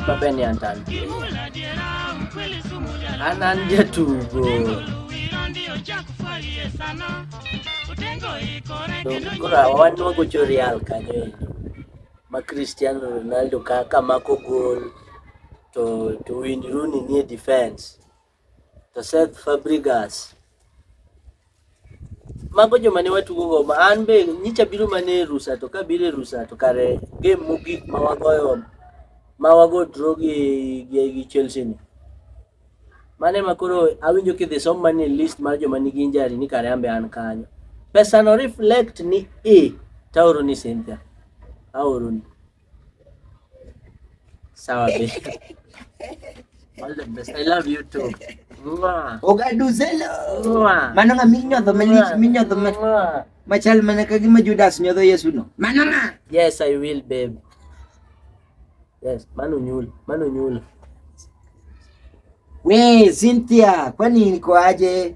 Babe ni antan. Anan jatugo. Kura wan wago Real kanyo ma Cristiano Ronaldo kaka mako gol to to Wayne Rooney nie defense. to Seth Fabregas. Mago joma ne watugo go ma an be nyicha biro mana e rusa to kabiro e rusa to kare game mogik ma wagoyo ma wago draw gi gi, gi Chelsea ni. Mane ma koro awinjo kidhi som mane list mar joma nigi injury ni kare ambe an kanyo. Pesa no reflect ni e taoro ni Cynthia. Aoro ni. Sawa babe. All the best. I love you too. Mwah. Ogaduzelo. Mwah. Mano nga minyodho malich minyodho ma Mwah. machal mana ka gima Judas nyodho Yesu no. Mano nga. Yes, I will, babe. Yes, mano nyul, mano nyul. We Cynthia, kwani niko aje?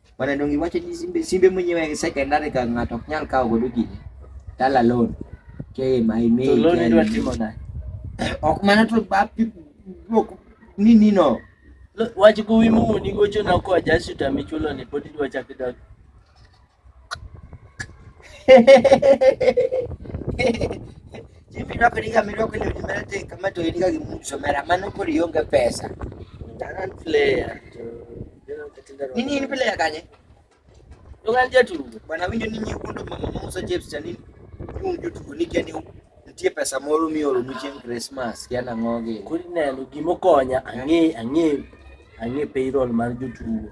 Bwana Dongi wacho ni simbe simbe mwenyewe secondary ka ng'ato ok nyal kawo godo gini. Tala loan. Ke ma ime. To loan idwa timo na. Ok mana to ba ok ni ni no. Wach kuwi mu ni gocho na ko ajasi ta michulo ni podi dwa chakida. Jimmy nako niga mi nako ni mera te kama to niga gimucho mera mano kori yonga pesa. Taran player. Nini ini pele yakanye? Yogal jetu. Bwana winjo nini ukondo mama mausa jebs cha nini? Yung jutu kunike ni nitie pesa moro mioro ni chieng' Christmas kia nang'o gi. Kuri neno gimo konya ang'e ang'e ang'e payroll mar jotugo.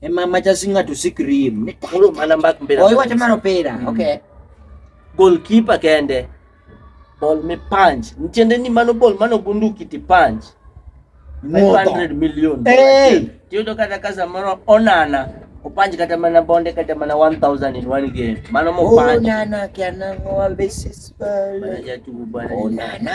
e ma ma chasi ng'ato sik rim ni Koro mana mbak mpira. o iwacho mar opira Mm. okay Goalkeeper kende. Ball me punch. Ntiende ni mano ball mano bunduki ti punch. Modho. 500 million. Hey! Tiyudo kata ka samoro onana opanj kata mana bonde kata mana 1000 in one game. Mano mo punch. onana kianango abesis Mana jatugo bwana. onana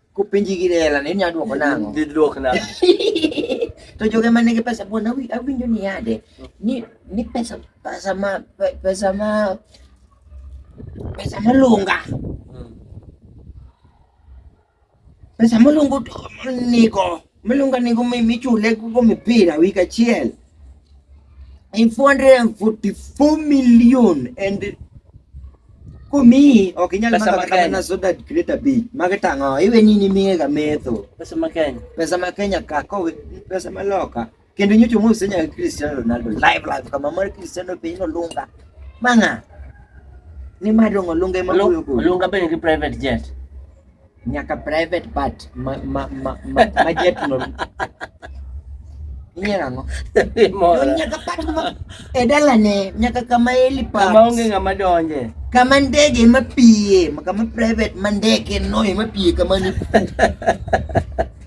Ku penji gi lela ne nya duoko nango. Dhi duok na. to joge ma nigi pesa buona awinjo ni yade ni ni pesa pesa ma pe- pesa ma pesa malunga Mm. pesa malunga nigo Miluongo ni gumi michule go mipira week achiel in 444 million and komiyi ok inyal Pesa maka ma kata Kenya. mana soda grade abich mag tang'o iwe ni nimiyega metho Pesa ma Kenya. pesa ma Kenya ka kowe pesa ma loka Kendo nyocho mo senya Cristiano Ronaldo live live kama mar Cristiano piny no lunga. Manga. Ni madongo lunga ema boyo go. Lunga be nigi private jet. Nyaka private part ma ma ma, ma, ma jet no. Inyera ngo. Mora. Nyaka part ma edala ne nyaka kama eli part. Kama onge ngama donje. Kama ndege ma piye, kama private ma ndege no ema piye kama ni.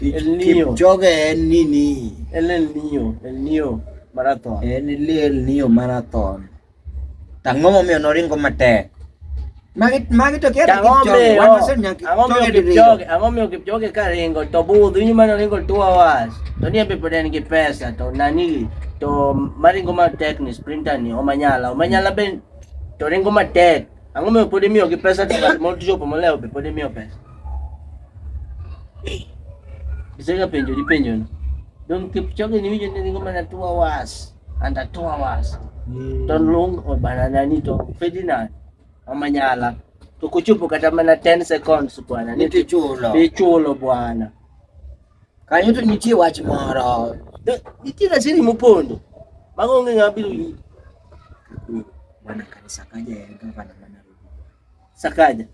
El Nino. Kipchoge en nini? En El Nino, El Nino marathon. En ile El Nino marathon. Tang'o momiyo noringo matek. Magi magi to kiata Ang'o Kipchoge. miyo? Wan waseneno Ang'o miyo Kipchoge diriyo. Kipchoge? Ang'o miyo Kipchoge ka ringo to budho inyo mane oringo two hours to ni embe pod en gi pesa to nani to maringo matek ni sprinter ni omanyala omanyala be to ringo matek Ang'o miyo pod imiyogi pesa to ng'at moro tichopo molewo be pod imiyo pesa? Isega penjo di penjo ni. Don Kipchoge ni winjo ni ringo mana two hours and a two hours. To long o banana ni to Ferdinand Omanyala to kuchopo kata mana 10 seconds bwana ni Nitichulo. tichulo bwana. Kanyo to nitie wach moro. Nitie gazeti mopondo. Mago onge ng'ama biro yudo. Bwana kanisa kaja ya gavana mana Nairobi. Sakaja.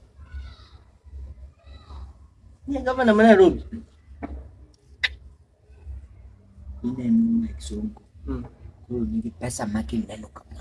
Ni gavana mana Nairobi. Ine mwa kisongo. Mm. Kuru ni pesa maki neno kama.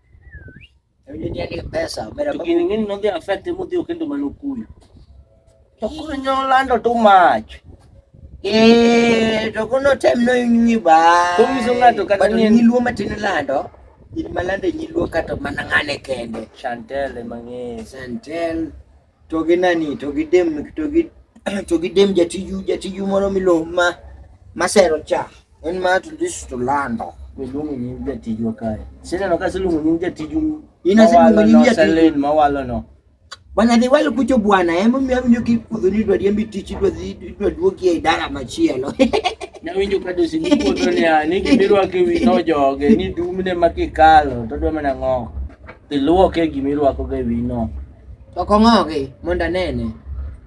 Kining'ini nodhi affect mudhi okendo mana okuyu. To koro nyolando too much. Eh, to kono tem no inyi ba. Komiso ng'ato kata ni nyiluo matin lando. In malande nyiluo kata mana ng'ane kende. Chantel emang'e. Chantel. to gi nani to gi dem to gi to gi dem jatiju jatiju moro milo ma masero cha en ma to this to lando iluongo nying jatiju kae sineno ka siluongo nying jatiju ina siluongo nying jatiju mawalo no bwana dhi wal kucho bwana ema miyo awinjo ki kudho ni dwa diembi tich dwa dhi dwa duogi e dara machielo nawinjo ka dosi ni kodho ni a ni gimirwake wi no joge ni dumne makikalo to dwa mana ng'o iluoke gima irwakoga e wino To ok ong'ogi mondo anene.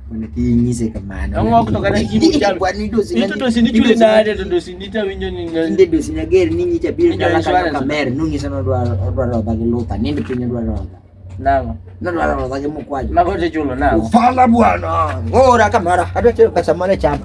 Mondo kik inyise kamano. Ong'ok to kata kik inyise kamano. Bwana idosi. Ito dosi ni chule nade to dosi ni tawinjo ni ngal. Inde dosi na ger ni nyicha biro dala kata kamer nung'isa no dwaro dwaro dha gi lupa ninde piny dwaro dha. Nango. Nadwaro dha gi mukwaji. Mago te chulo nango. Ufala bwana. Ngora kamara. Adwa chelo pesa mane chama.